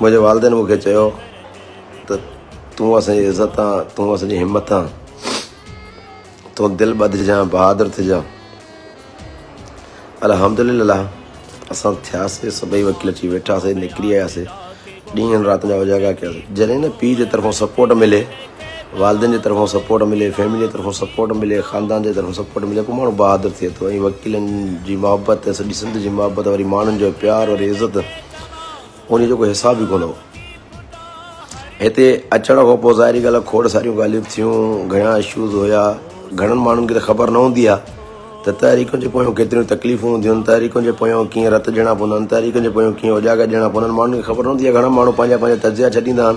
منهنجي والدين مون کي چيو ته تون اسان جي عزت آن، تون اسان جي همت آن، تون دل ٻڌجان، بهادر ٿجان. الحمدلله اسان ٿياسي، سڀئي وڪيل اچي ويٺاسي، نڪري آياسي، ڏينهن رات جا اجاڳا ڪياسي. جڏهن نه پيء جي طرفان سپورٽ ملي، والدين جي طرفان سپورٽ ملي، فيملي جي طرفان سپورٽ ملي، خاندان جي طرفان سپورٽ ملي، پوء ماڻهو بهادر ٿئي ٿو ۽ وڪيلن جي محبت، سڄي سنڌ جي محبت، وري ماڻهن جو پيار وري عزت. انهيء جو ڪو حساب ئي ڪونه هو. هتي اچڻ کان پوء ظاهري ڳالهه کوڙ ساريون ڳالهيون به ٿيون، گهڻا اشوز هيا. گهڻن ماڻهن کي ته خبر نه هوندي آهي ته تحريڪن جي پويان ڪيتريون تڪليفون هونديون آهن، تحريڪن جي پويان ڪيئن رت ڏيڻا پوندا آهن، تحريڪن جي پويان ڪيئن اوجاڳا ڏيڻا پوندا آهن، ماڻهن کي خبر نه هوندي آهي. گهڻا ماڻهو پنهنجا پنهنجا تجزيا ڇڏيندا آهن.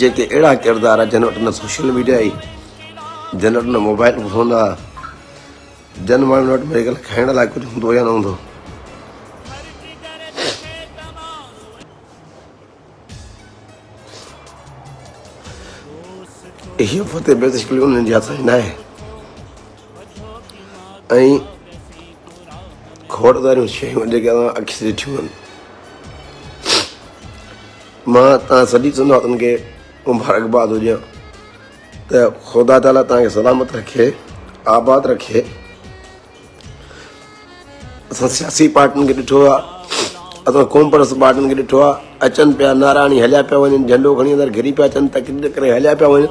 جيڪي اهڙا ڪردار جن وٽ نه سوشل ميڊيا آهي جن وٽ نه موبائل فون آهي جن ماڻهن وٽ ميري خيال کائڻ لاء ڪجهه هوندو يا نه هوندو اهي فتح بيزڪلي انهن جي هٿ ۾ نه آهي ۽ کوڙداريون شيون جيڪي اسان اکين سان ڏٺيون آهن مان تان سڀي سنواتن کي مبارڪباد هجان ته خدا تعاليٰ تان کي سلامت رکي آباد رکي اسان سياسي پارٽين کي ڏٺو آهي اسان قوم پرست پارٽين کي ڏٺو آهي اچن پيا ناراڻي هليا پيا وڃن جهنڊو کڻي اندر گهري پيا اچن تقرير ڪري هليا پيا وڃن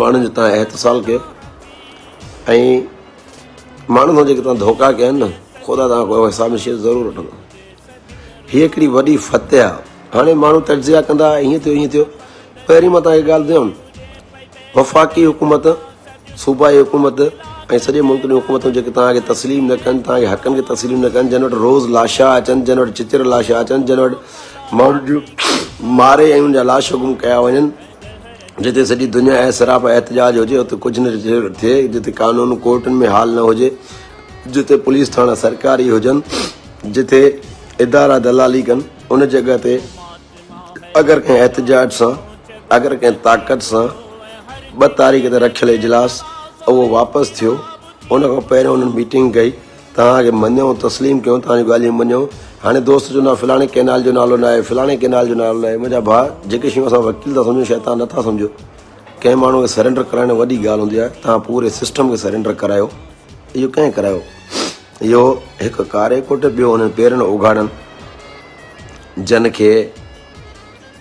ماڻهن جي تان احتسال ڪيو ۽ ماڻهن سان جيڪي تان ڌوڪا ڪيا آهن نه خدا تان ڪو حساب نشيت ضرور وٺندو هي هڪڙي وڏي فتح آ هاڻي ماڻهو تجزيا ڪندا هيئن ٿيو هيئن ٿيو پهرين مان تان هي ڳالهه ٻڌيم وفاقي حڪومت صوبائي حڪومت ۽ سڄي ملڪ جون حڪومتون جيڪي تان کي تسليم نه ڪن تان کي حقن کي تسليم نه ڪن جن وٽ روز لاشا اچن جن وٽ چچر لاشا اچن جن وٽ ماڻهن جون ماري ۽ ان جا لاش حڪم ڪيا وڃن جتي سڄي دنيا اعتراف ۽ احتجاج هجي اتي ڪجهه نه ٿئي، جتي قانون ڪورٽن ۾ حال نه هجي، جتي پوليس ٿاڻا سرڪاري هجن، جتي ادارا دلالي ڪن ان جڳهه تي اگر ڪنهن احتجاج سان اگر ڪنهن طاقت سان ٻه تاريخ تي رکيل اجلاس اهو واپس ٿيو ان کان پهريون انهن ميٽنگ ڪئي. توهان اڳي مڃيو، تسليم ڪيو، توهان جون ڳالهيون مڃيو. هاڻي دوست چون ٿا فلاڻي ڪئنال جو نالو نه آهي، فلاڻي ڪئنال جو نالو نه آهي. منهنجا ڀاء، جيڪي شيون اسان وڪيل ٿا سمجهون، شيطان نه ٿا سمجهو. ڪنهن ماڻهوء کي سرينڊر ڪرائڻ وڏي ڳالهه هوندي آهي. توهان پوري سسٽم کي سرينڊر ڪرايو. اهو ڪنهن ڪرايو؟ اهو هڪ ڪاري ڪوٽ، ٻيو هنن پيرن اوگهاڙن، جن کي.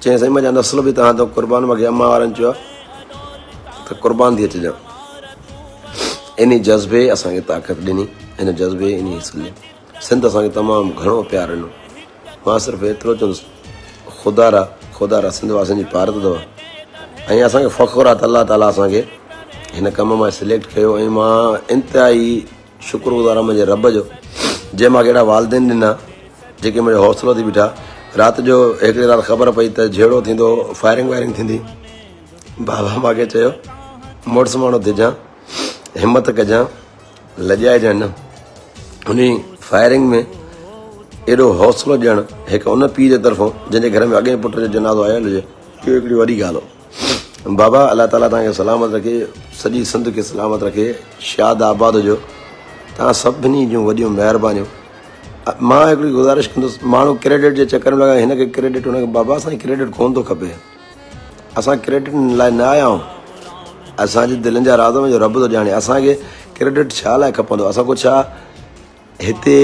چيائين سائين منهنجا نسل به تهان ته قربان مونکي امان وارن چيو آهي ته قربان ٿي اچجان انهي جذبي اسان کي طاقت ڏني ان جذبي انهي سلي سنڌ اسان کي تمام گهڻو پيار ڏنو مان صرف ايترو چوندس خدا را خدا را سنڌ واسن جي پارت اٿو ۽ اسان کي فخر آهي ته الله تعالیٰ اسان کي هن ڪم مان سليڪٽ ڪيو ۽ مان انتهائي شڪر گذار آهيان منهنجي رب جو جنهن مونکي اهڙا والدين ڏنا جيڪي منهنجو حوصلو ٿي بيٺا رات جو هڪڙي رات خبر پئي ته جهيڙو ٿيندو فائرنگ وائرنگ ٿيندي بابا مونکي چيو مڙس ماڻهو ٿجان همت ڪجان لڄائجان نه ان فائرنگ ۾ اهڙو حوصلو ڏيڻ هڪ ان پيء جي طرفون جنهن جي گهر ۾ اڳئين پٽ جو جنازو آيل هجي اهو هڪڙي وڏي ڳالهه هو بابا الله تعالي توهان کي سلامت رکي سڄي سنڌ کي سلامت رکي شاد آباد هجو توهان سڀني جون وڏيون مهربانيون مان هڪڙي گزارش ڪندس ماڻهو ڪريڊٽ جي چڪر ۾ لڳا هن کي ڪريڊٽ هن کي بابا اسان ڪريڊٽ ڪون ٿو کپي اسان ڪريڊٽ لاء نه آيا آهيون اسانجي دلين جا راز جو رب ٿو ڄاڻي اسانکي ڪريڊٽ ڇا لاء کپندو اسان کو ڇا هتي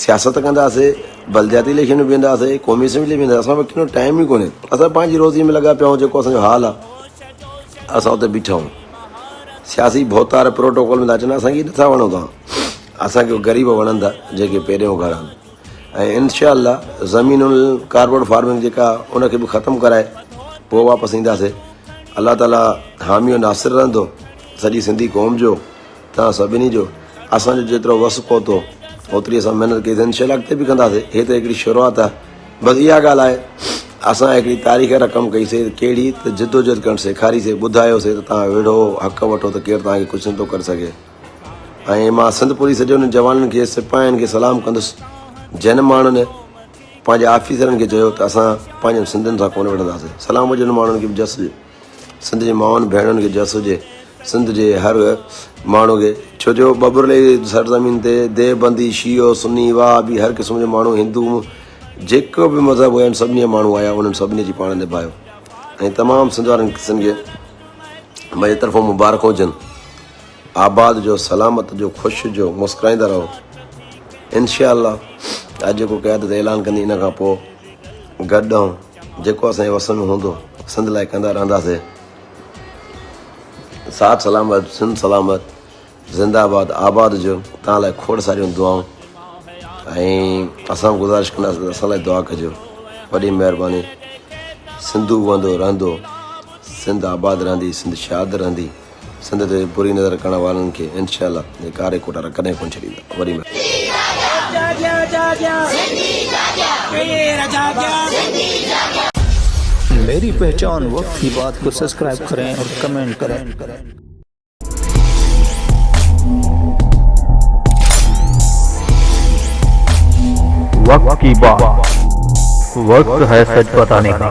سياست ڪنداسي، بلدياتي اليڪشن ۾ بيهنداسي، قومي اسيمبلي ۾ بيهنداسي، اسان وٽ ڪنو ٽائيم ئي ڪونهي، اسان پنهنجي روزي ۾ لڳا پيا آهيون، جيڪو اسان جو حال آهي، اسان اتي بيٺا آهيون، سياسي ڀوتار پروٽوڪول ۾ ٿا اچن، اسان کي نٿا وڻو توهان، اسان کي غريب وڻن ٿا، جيڪي پيرين اگهاڙا آهن ۽ انشاء الله زمينون ڪارپوريٽ فارمنگ جيڪا ان کي به ختم ڪرائي پوء واپس اينداسي، الله تعاليٰ حامي و ناصر رهندو سڄي سنڌي قوم جو. توهان سڀني جو اسان جو جيترو وس پهتو اوتري اسان محنت ڪئي سين ان شاء الله اڳتي به ڪنداسين هي ته هڪڙي شروعات آهي بس اها ڳالهه آهي اسان هڪڙي تاريخ رقم ڪئي سي ڪهڙي ته جدوجهد ڪرڻ سيکاري سي ٻڌايو سي ته توهان ويڙهو حق وٺو ته ڪير توهان کي ڪجهه نه ٿو ڪري سگهي ۽ مان سنڌ پوري سڄي انهن جوانن کي سپاهين کي سلام ڪندس جن ماڻهن پنهنجي آفيسرن کي چيو ته اسان پنهنجن سنڌين سان ڪونه وڙهنداسين سلام هجن ماڻهن کي جس سنڌ جي مائن ڀيڻن کي جس هجي سنڌ جي هر ماڻهو کي ڇو جو ٻٻرلي جي سرزمين تي ديو بندي شيعو سني وهابي هر قسم جو ماڻهو هندو جيڪو به مذهب هيا سڀني جا ماڻهو آيا انهن سڀني جي پاڻ نڀايو ۽ تمام سنڌ وارن قسم کي مجھے طرفون مبارڪ هجن آباد جو سلامت جو خوش جو مسڪرائيندا رهو انشاءالله اڄ جيڪو قيادت اعلان ڪندي ان کان پوء گڏ آئون جيڪو اسان جي وس ۾ هوندو سنڌ لاء ڪندا رهنداسي ساٿ سلامت سنڌ سلامت زنده آباد آباد جو تان لاء کوڙ ساريون دعائون ۽ اسان گزارش ڪنداسين اسان لاء دعا ڪجو وڏي مهرباني سنڌو وندو رهندو سنڌ آباد رهندي سنڌ شاد رهندي سنڌ تي بري نظر ڪرڻ وارن کي انشاء الله جي ڪاري ڪوٽارا ڪڏهن ڪونه ڇڏيندا وڏي مهرباني. ميري پهچان وقت ڪي بات ڪو سبسڪرائب ڪرين اور ڪمينٽ ڪرين. وقت ڪي بات وقت هي سچ بتاني ڪا.